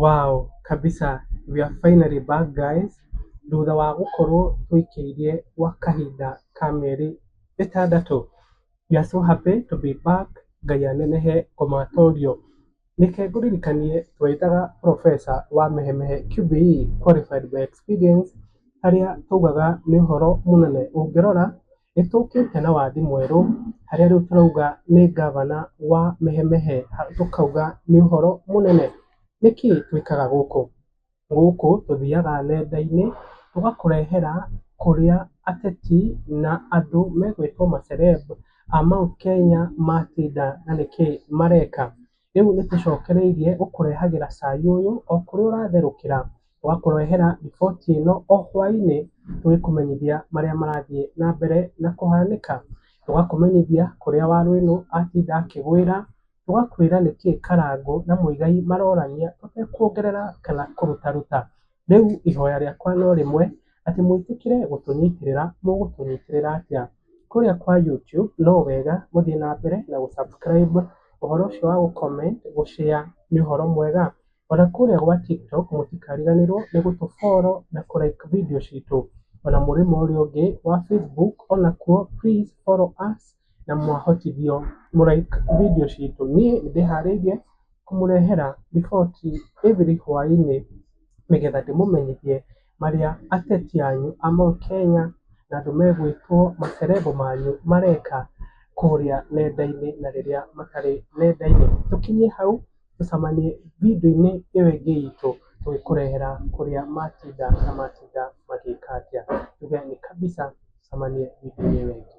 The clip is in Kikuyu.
Wow kabisa we are finally back guys thutha wa gũkorwo tũikĩirie gwa kahinda ka mĩeri ĩtandatũ, we are so happy to be back Ngai anenehe Omatorio. Reke ngũririkanie twetaga professor wa Mehemehe QBE qualified by experience harĩa twaugaga nĩ ũhoro mũnene ũngĩrora Nĩ tũkĩte na wathĩ mwerũ harĩa rĩu tũrauga nĩ ngabana wa mehe mehe tũkauga nĩ ũhoro mũnene. Nĩ kĩĩ twĩkaga gũkũ? Gũkũ tũthiaga nenda-inĩ tũgakũrehera kũrĩa ateti na andũ megwĩtwo ma celeb a Mount Kenya matinda na nĩ kĩĩ mareka. Rĩu nĩ tũcokereirie gũkũrehagĩra cai ũyũ o kũrĩa ũratherũkĩra. Twakũrehera riboti ĩno o hwainĩ tũgĩkũmenyithia marĩa marathiĩ na mbere na kũhanĩka. Tũgakũmenyithia kũrĩa waru ĩno atinda akĩgwĩra, tũgakwĩra nĩkĩĩ Karangũ na Muigai marorania tũtekuongerera kana kũrutaruta. Rĩu ihoya rĩakwa no rĩmwe, atĩ mũĩtĩkĩre gũtũnyitĩrĩra. Mũgũtũnyitĩrĩra atĩa? Kũrĩa kwa YouTube no wega mũthiĩ na mbere na gũ subscribe, ũhoro ũcio wa gũ comment, gũ share nĩ ũhoro mwega. Ona kũrĩa gwa TikTok mũtikariganĩrwo nĩ gũtũ follow na kũ like video citũ. Ona mũrĩmo ũrĩa ũngĩ wa Facebook onakuo please follow us. na mwahotithio mũ like video citũ. Niĩ nĩ ndĩharĩirie kũmũrehera riboti every hwainĩ nĩgetha ndĩmũmenyithie marĩa ateti anyu a Mount Kenya na andũ megwĩtwo ma celeb manyu mareka kũrĩa nenda-inĩ na rĩrĩa matarĩ nenda-inĩ. Tũkinyie hau Tũcemanie video-inĩ ĩyo ĩngĩ itũ tũgĩkũrehera kũrĩa matinda na matinda magĩka atĩa. Tuge nĩ Kabica, tũcemanie video-inĩ ĩyo ĩngĩ.